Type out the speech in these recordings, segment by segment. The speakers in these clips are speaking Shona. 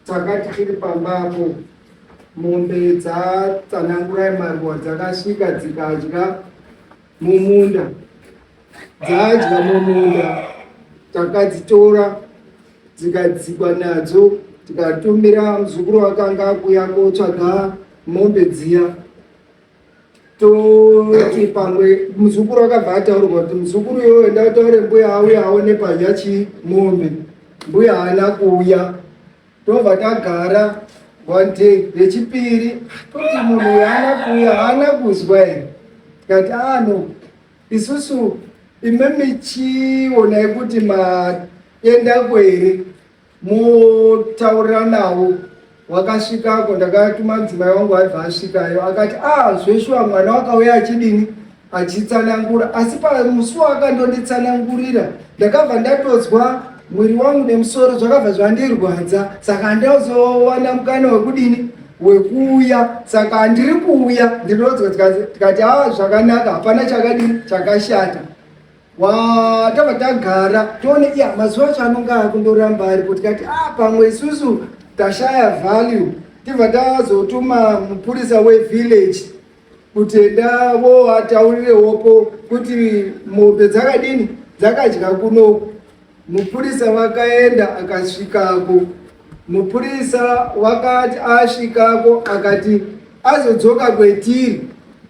Takati tiri pambapo mombe dzatsanangurai maruwa dzakasvika dzikadya mumunda dzadya mumunda takadzitora dzikadzikwa nadzo tikatumira muzukuru wakanga akuya kotsvaga mombe dziya toti pamwe muzukuru akabva ataurwa kuti muzukuru iyoyo enda utaure mbuya auye aone padya chii mombe mbuya haana kuuya tobva tagara one day rechipiri toti munhu uyo haana kuuya haana kuzwa here tikati ano ah, isusu ime michionai kuti maenda kwere motaurira navo wakasvikako ndakatuma mudzimai wangu aibva asvikayo akati ah zveshuwa mwana wakauya achidini achitsanangura asi pamusi wakandonditsanangurira ndakabva ndatodzwa mwiri wangu nemusoro zvakabva zvandirwadza saka ndozowana mukana wekudini wekuuya saka handiri kuuya ndinodzwa tikati a ah, zvakanaka hapana chakadini chakashata Waa tava tagara tione iya mazuva acho anonge akundoramba ari kuti kati a ah, pamwe isusu tashaya value tibva tazotuma mupurisa wevillage kuti enda voataurirewopo kuti mombe dzakadini dzakadya kunoku Mupurisa vakaenda akasvikako. Mupurisa wakati asvikako akati azodzoka kwetiri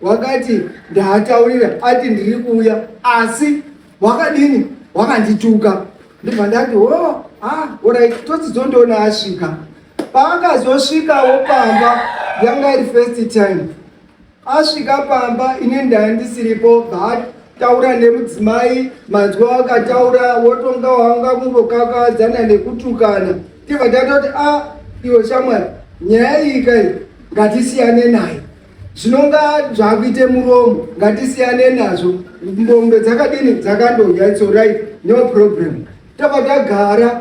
wakati ndaataurira ati ndiri kuuya asi wakadini wakandituka ndibva ndati o oh, ah, orit todzizondoona asvika paakazosvikawo pamba yanga iri first time Asvika pamba ini ndaya ndisiripo but taura nemudzimai manzwa wakataura wotonga wanga kungokakadzana nekutukana tibva tatoti a ah, iwo shamwari nyaya iyi kai ngatisiyane nayo zvinonga zvakuite muromo ngatisiyane nazvo mbombe dzakadini dzakandodya its orit no problem tobva tagara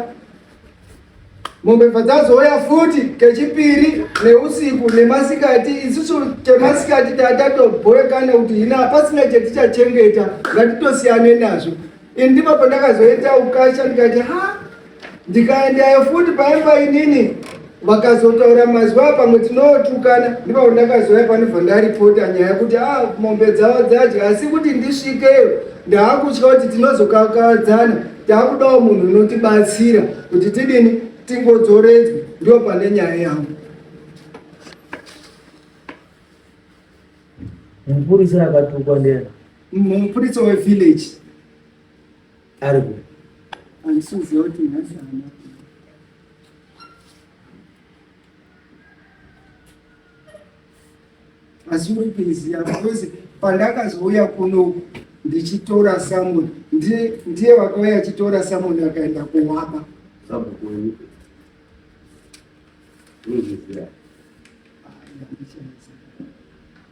mombe padzazouya futi kechipiri neusiku nemasikati isusu chemasikati tatatobhoeka nekuti hina hapasina chetichachengeta ngatitosiyane nazvo ini ndipo pandakazoita ukasha ndikati ha ndikaendayo futi paimba inini vakazotaura mazwi a pamwe tinootukana ndipavo ndakazouya panobva ndaripota nyaya kuti a ah, mombe dzavo dzadya asi kuti ndisvikeyo ndaakutya kuti tinozokakadzana taakudawo munhu unotibatsira kuti tidini tingodzoredzwe ndiwo pane nyaya yangu mupurisa akatukwa ndiani mupurisa wevillage ari ku andisiziva kuti nhasi hana asi muipirizi yavo kwese pandakazouya kunoku ndichitora samoni ndiye vakauya achitora samoni akaenda kuwaba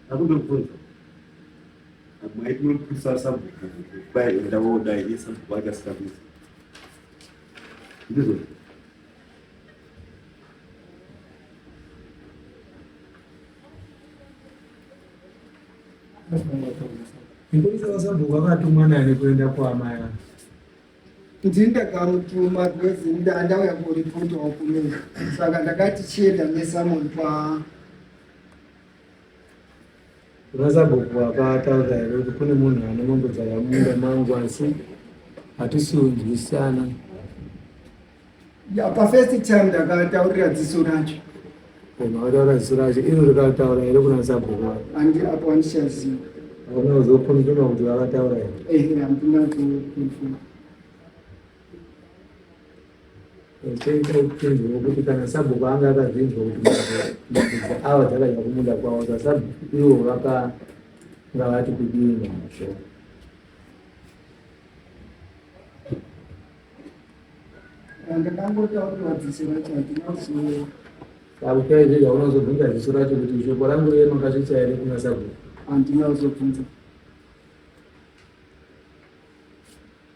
akundokubvunza Amai tinokuisa sabhuku dai enda wodai iye sabhuku ake asikakuisa. Ndizvo. Ndikuisa wasabhuku akatumwa nani kuenda kwaamai ake. kuti ndakamutuma because ndauya kuripotawo kumina saka ndakati chienda nesamon kwa Kuna sabhuku vakataura here kuti kune munhu ane mombe dzakamunda mangu asi hatisi kunzwisana. Ya pafirst time ndakataurira dziso racho. Koma wataura dziso racho iro rikataura here kuna sabhuku vako? Andi apo andichaziva. Hauna kuzokonfirma kuti vakataura here? Ehe, handina kukonfirma. Chaiita upenzi hwekuti kana sabhuku anga akazvinzwa kuti mabvudzi awa dzakadya kumunda kwavo sasabhuku ivo vakanga vati kudii nazvo akukaizvega unozobvunza ziso racho kuti shoko rangu riye makasvitsa here kuna sabhuku andina uzobvunza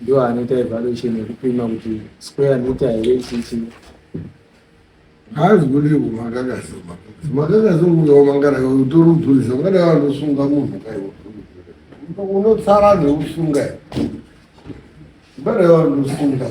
ndiwo anoita evaluation yekupima kuti square mita here chichi haazi kuti kumakakazoma makakazoma ukaomangana utori mudhurisa ungada vanosunga munhu kaiwa unotsara neusunga ungada vanosunga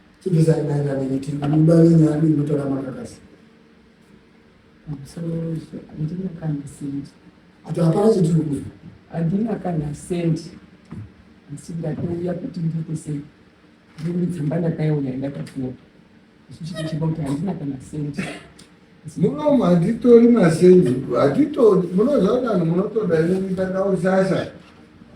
Chibvisa kudaira nekuti mimba yenyu ari inotora makakasi. Msorozvo, handina kana sendi. Ati hapana chitiri kuzi. Handina kana sendi. Asi ndatouya kuti ndiite sei. Ndiri tsamba ndakaiona ndakapfuwa. Isu chiti chiba kuti handina kana sendi. Muno matitori masenzi hatitori munoziva kuti vanhu munotoda inoita kausasa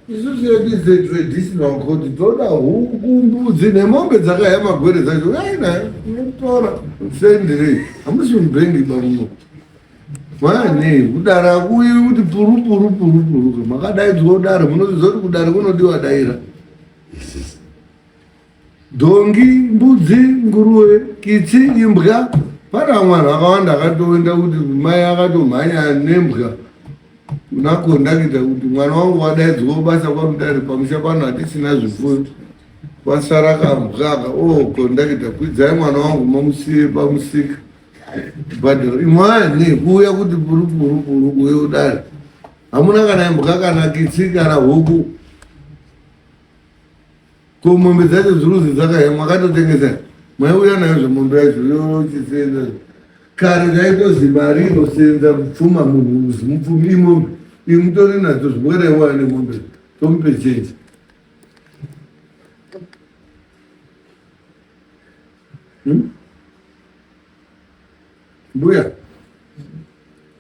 isu zvedu zvetraditional court toda huku mbudzi nemombe dzakaya magwere dzacho uyai nayo inotora sendire hamusi mubhengi bamuno mane kudara kuyi kuti puru puru puru puru makadaidzwa kudara munoziva kuti kudara kunodiwa daira dhongi mbudzi nguruve kitsi imbwa pane vamwe vanhu vakawanda akatoenda kuti mai akatomhanya nembwa nakondakita kuti mwana wangu wadaidzwa basa kwamudare pamusha pano hatisina zvifuyo kwasara kambwaka o oh, kondakita kwidzai mwana wangu mamusiye pamusika bhadharo imwani kuuya kuti purupurupuruku yodare hamuna kana imbwa kana kitsi kana huku Ko mombe dzacho ziruzi dzakaya mwakatotengesa maiuya nayo zvemondo yacho yochisenza kare zvaitozi mari inosenza mupfuma munhu uzi mupfumi imombe iyi mutori nadzo zvimweraiwaya nemombe tomupe chenji hmm? mbuya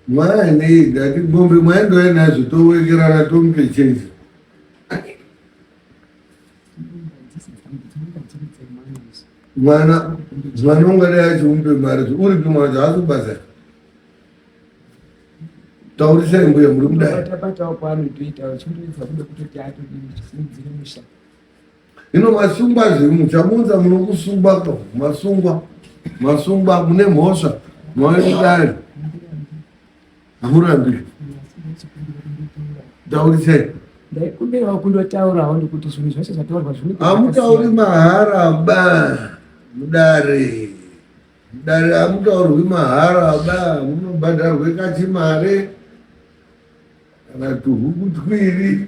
mwaanei ndati mombe mwaindoya nazvo towekerana tomupe chenji mwana mwana ungadai achiumbe mari uripi mwana haasi kubasa taurisai mbuya muri kudai ino masungwa zviri muchamunza munokusungwa ko masungwa masungwa mune mhosva mwaekudai hamurambi taurisai ndaikumbirawo kundotaurawo ndikuti zvinhu zvese zvataurwa zvini hamutauri mahara ba mudare mudare hamutaurwi mahara ba munobhadharwe kachimare kana tuhuku twiri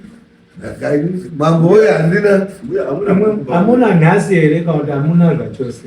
mambo oyo handina hamuna nhasi here kana kuti hamuna zvachose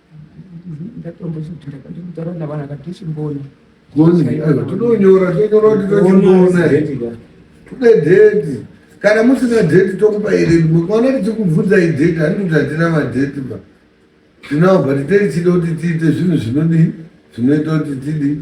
tinonyora tonyora kuti tochimbona tode dheti kana musina dheti tokupa iri mwana tichikubvunzai dheti handiti kuti hatina madheti ba tinawo but teichida kuti tiite zvinhu zvinodii zvinoita kuti tidii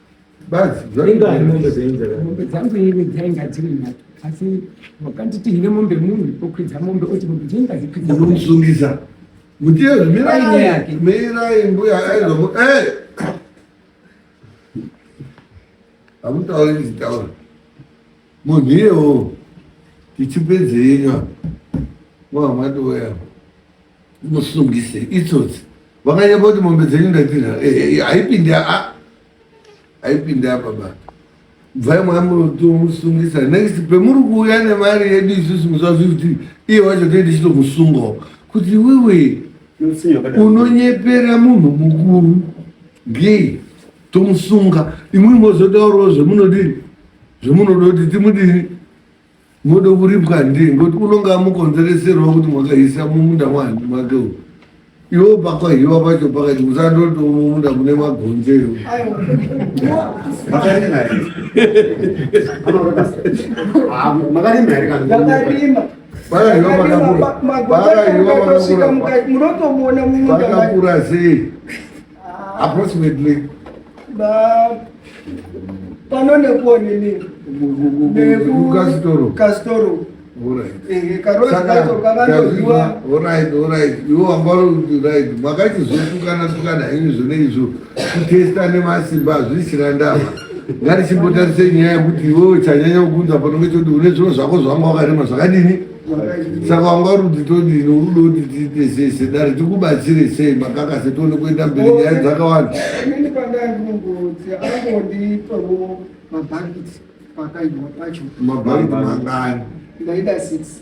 Basi, inga mombe dzenza. Mombe dzangu ini dzainga dziri nhatu. Asi wakanditi hine mombe munhu okwidza mombe oti mombe dzenga dzikwidza. Unomsungisa. Kuti yezvo mirai mirai mbuya aizomu eh. Amutauri nditaura. Munhu iyewo tichipedzenywa. Mwa mwati weya. musungise itsotsi vakanyamba kuti mombe dzenyu ndatina eh, eh, eh, haipinde a haipinde apa ba bvai mwamutomusungisa next pemuri kuuya nemari yedu isusu musazvi kuti iye wacho toende chitomusungawo kuti wewe unonyepera munhu mukuru ngei tomusunga imwimwe zotaurawo zvemunodini zvemunoda kuti timudini Mode kuripwa ndiye ngoti unonga amukonzereserwa kuti mwakaisa mumunda wani mwake uyu iwo pakwahiwa pacho pakati musandotomumunda mune magonzero pakakura sei approximately pano nekuwo nini nekukasitoro kasitoro makachizotukana tukana henyu zvone izvo kutesta nemasimba hazvisina ndava ngatichimbotarise nyaya yekuti iwewe chanyanya kukunza panonge choti une zviro zvako zvanga wakarima zvakadini saka wanga rudzi todini urudo kuti tiite sei sedare tikubatsire sei makaka setione kuenda mberi nyaya dzakawanda eh, inini pandai munongozi angondipewo mabhakiti pakaibwa pacho mabhakiti mangani ndaida six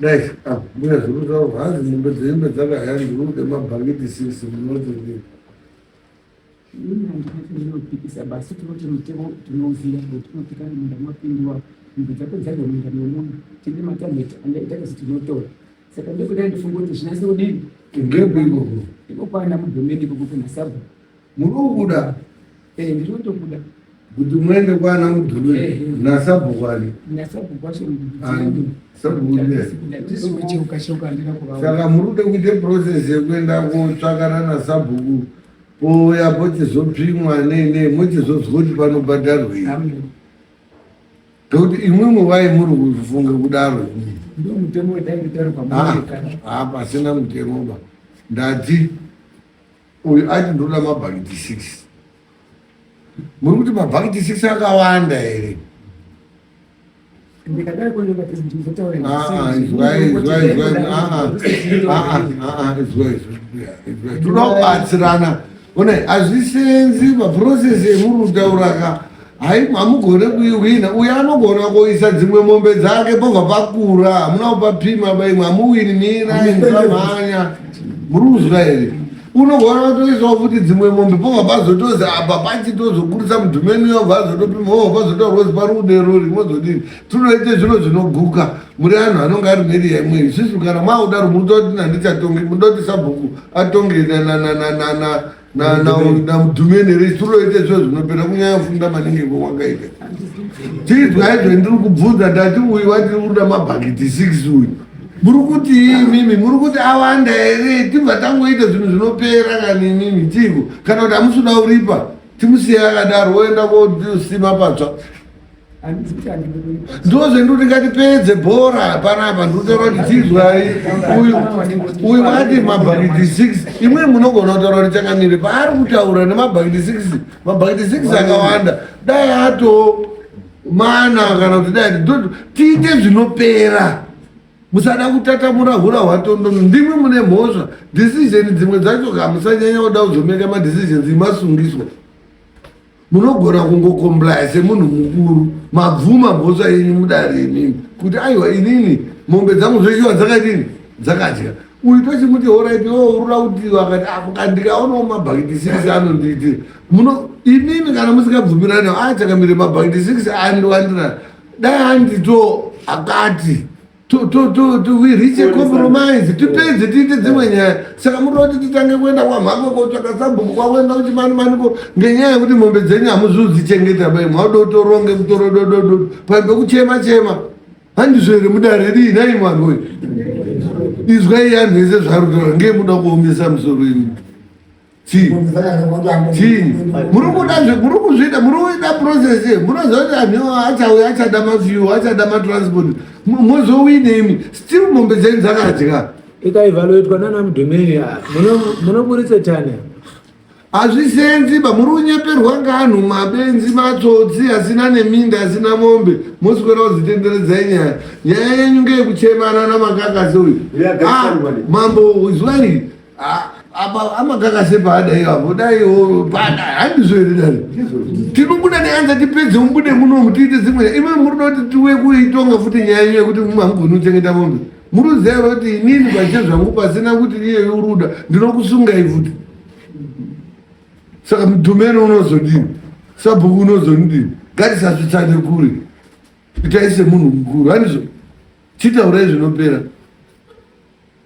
Dai ah, mbuya zuru zavo hanzi mombe dzembe dzakaya ndiude mabhakiti sisi munoti ndii inopikisa basi tinoti mutemo tinoziva kuti tinopika munda mapindiwa mumba dzako dzadya munda memunhu tine matabheti andaita kasi tinotora saka ndokudai ndifunga kuti zvinase kudini ngebiko ikokwana mudhomeni ikoko kunasabhu Murikuda. Eh, ndinotokuda. Kuti muende kwana mudhulu eh, eh. nasabhukwani. Nasabhukwa somudhulu. Saka murude kuite process yekuenda kotsvakana nasabhuku pouya pochizopfimwa nei nei mochizozwa kuti panobhadharwei ndokuti imwimwe wai muri kufunga kudaro hapasina mutemo ba ndadzi Uyu aiti ndoda mabhakiti six. Muri kuti mabhakiti six akawanda here? Toda kubatsirana. One, hazvisenzi maprocess emuri kutauraka. Hai hamugone kuiwina uye anogona kuisa dzimwe mombe dzake pobva pakura hamuna kupapima paimwe hamuwini mirai musamhanya muri kuzwa here unogona kutoisawo futi dzimwe mombe pobva pazotozi apa pachi tozokurisa mudhumeni yobva azotopima obva pazotaurwozi pari kudero rimozodini tinoite zviro zvinoguka muri anhu anonge ari mheri yaimwe isusu kana maudaro mutoti nandichatonge mudoti sabhuku atonge namudhumeni here tiroite zvo zvinopera kunyaya funda maningi kwewakaita tiizwai zve ndiri kubvunza ndati uyu wati uda mabhakiti six uyu muri kuti imimi muri kuti awanda here tibva tangoita zvinhu zvinopera kani imimi tiiko kana kuti amusuda uripa timusiye akadaro woenda kosima patsva ndozvendikuti ngatipedze bhora panapa ndikutaura kuti tizwai uyu uyu vati mabhakiti six imweni munogona kutaura kuti chakamire paari kutaura nemabhakiti six mabhakiti six akawanda dai ato mana kana kuti dai tiite zvinopera musada kutatamura hura hwatondo ndimwe mune mhosva decision dzimwe dzacho ka musanyanya kuda kuzomeka madecisions imasungiswa munogona kungokomblaya semunhu mukuru mabvuma mhosva yenyu mudare imimi kuti aiwa inini mombe dzangu zveshuwa dzakadini dzakadya uyu tochimuti horaiti ourura oh, kuti akati akandikaonawo ah, mabhakiti six anondiitira muno imimi kana musingabvumirani achakamire mabhakiti six andiwandira dai andito akati to to to to we reach a compromise tipedze tiite dzimwe nyaya saka muda kuti titange kuenda kwamhako kotsvaka sabhuku kwakuenda kuti mani mani ko ngenyaya yekuti mombe dzenyu hamuzviudzichengeta bai mwakuda kuti oronge mutoro dododo paimbe kuchema chema handizvo here mudare rii nhai mwana uyu izwai yanhu ese zvarutaura ngei muda kuomesa musoro imi chii chii muri kuda muri kuzvida muri kuita process ye munoziva kuti anhu iwo achauya achada mafuel achada matransport mozowine imi still mombe dzenyu dzakadya ikaivaloitwa nana mudhumeri munoburitse tani hazvisenzi ba muri kunyeperwa nganhu mabenzi matsotsi asina neminda asina mombe moswera kuzitenderedzai nyaya nyaya yenyu ngeyekuchemana namakakasi uyu ah, mambo zuva rii apa amakaka sepaada iwapo dai pada handizoere dani tinobuda neanza tipedze mubude munomu tiite zimwe imi murida kuti tiwe kuitonga futi nyaya iyo yekuti mangoni uchengeta mombe muruziva kuti inini pache zvangu pasina kuti iyeyo uruda ndinokusungai futi saka mudhumeni unozodini sabhuku unozonidini ngatisasvitsane kure itai semunhu mukuru hanizvo chitaurai zvinopera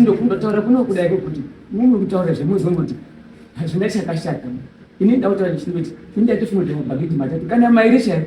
ndokundotaura kunokuda kwekuti mimi kutaura zvemuzongoti hazvina chakashata ini ndautaura chindoti ini ndatifunga kuti mabhagidhi matatu kana mairi chaivo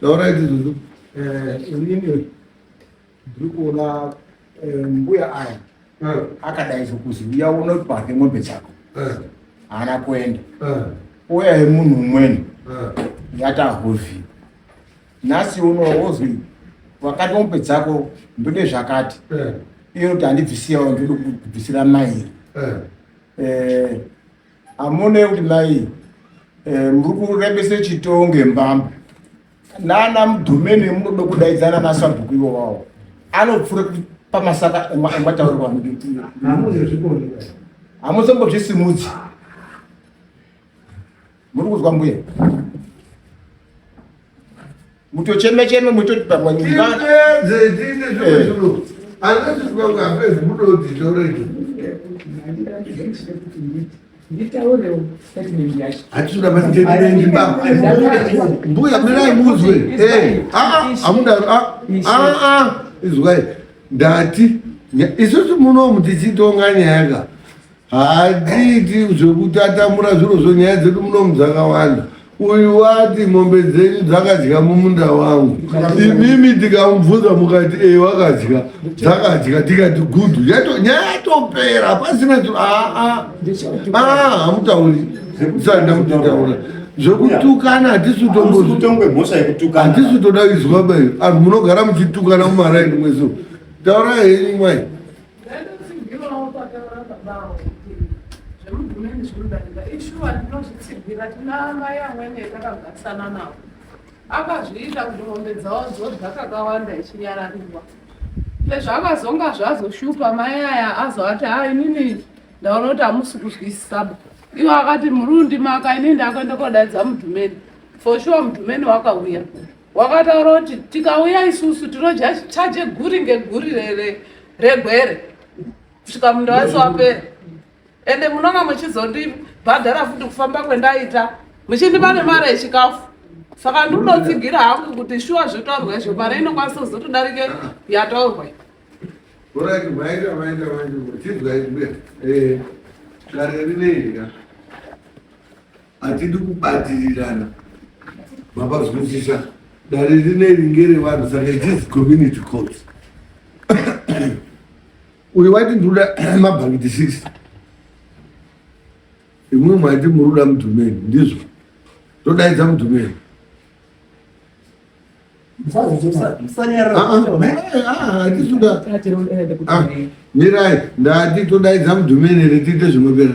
Taura idzi zuzu. Eh, ini ndiri kuona eh, mbuya aya eh. akadaidzwa kuzi uya uno pake mombe dzako eh. haana kuenda uya yemunhu umweni yatahovhi nhasi uno wozwi wakati mombe dzako ndode zvakati iyo kuti handibvisiyawo ndode kubvisira mairi Amune kuti mai eh, muri kurembesa chitonge mbamba nana mudhumeni munoda kudaidzana nasabhuku ivo vawo anopfura pamasaka emataurwa hamuzombozvisimudzi muri kuzwa mbuya mutocheme cheme mutoti pamwe mbuya mirai muzwe eh, ah, ah, amudaro ah, izwai ndati isusu munomu tichitonga nyaya ka Hatiiti zvekutatamura zviro zvonyaya dzedu munomu dzakawanda uyu wati mombe dzenyu dzakadya mumunda wangu imimi tikamubvunza mukati e wakadya dzakadya tikati gudhu nyaya yatopera hapasina aa ah, ah. ah, hamutauri sanda mutitaura zvekutukana hatisi utombotambwehatisi utoda izwa bayo anhu munogara muchitukana mumaraini mweso taura henyu mwai Ndaitotsigirawo pataura baba avo kuti zvemudhumeni zvinodarika ishuwa ndinozvitsigira tina mai amwene takagarisana navo akazviita kuti mombe dzavo dzodya kakawanda ichinyarariwa pezvakazonga zvazoshupa mai aya azovati ha inini ndaona kuti hamusi kuzwisisaba ivo akati murundi maka ini ndakuenda kodaidza mudhumeni for sure mudhumeni wakauya Wakataura kuti tikauya isusu tinodya chaje guri ngeguri regwere kusvika munda wese wapera ende munonga muchizondibhadhara futi kufamba kwendaita muchindipa nemari yechikafu saka ndinotsigira hangu kuti shuwa zvotaurwa izvo mari inokwanisa kuzotodarike yataurwa orati maita maita maita muchidzwa izwe eh, dare rinei Hatidi kubatirirana mabazwisisa dare rineri ngerevanhu saka it is community court uyu wati ndinoda mabhakiti six imwe mwaiti muri kuda mudhumeni ndizvo todaidza mudhumeni mirai ndati todaidza mudhumeni here tiite zvinopera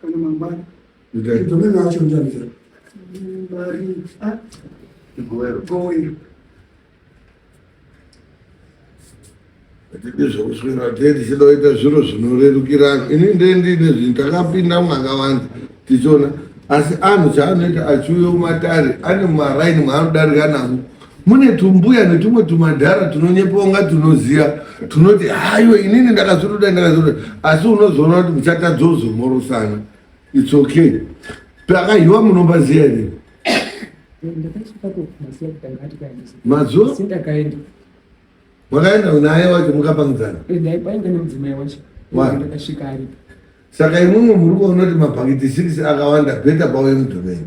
Kana mangwana. Ndai. Ndomwe nacho ndamira. Mbari. Ah. Goero. Goero. Ndidi zvokuswera tedi chinoita zviro zvinorerukirana. Ini ndendi nezvinhu takapinda mwakawanda tichiona asi anhu chaanoita achiuya kumatare ane maraini maanodarika navo mune tumbuya netumwe tumadhara tunonyepa unga tunoziva tunoti hayo inini ndakazviruda ndakazviruda asi unozoona kuti muchatadza uzomorosana its okay pakahiwa munombaziva here mazuva makaenda naye wacho mukapangidzana saka imwimwe muri kuona kuti mabhakiti six akawanda beta pawe mudhumeni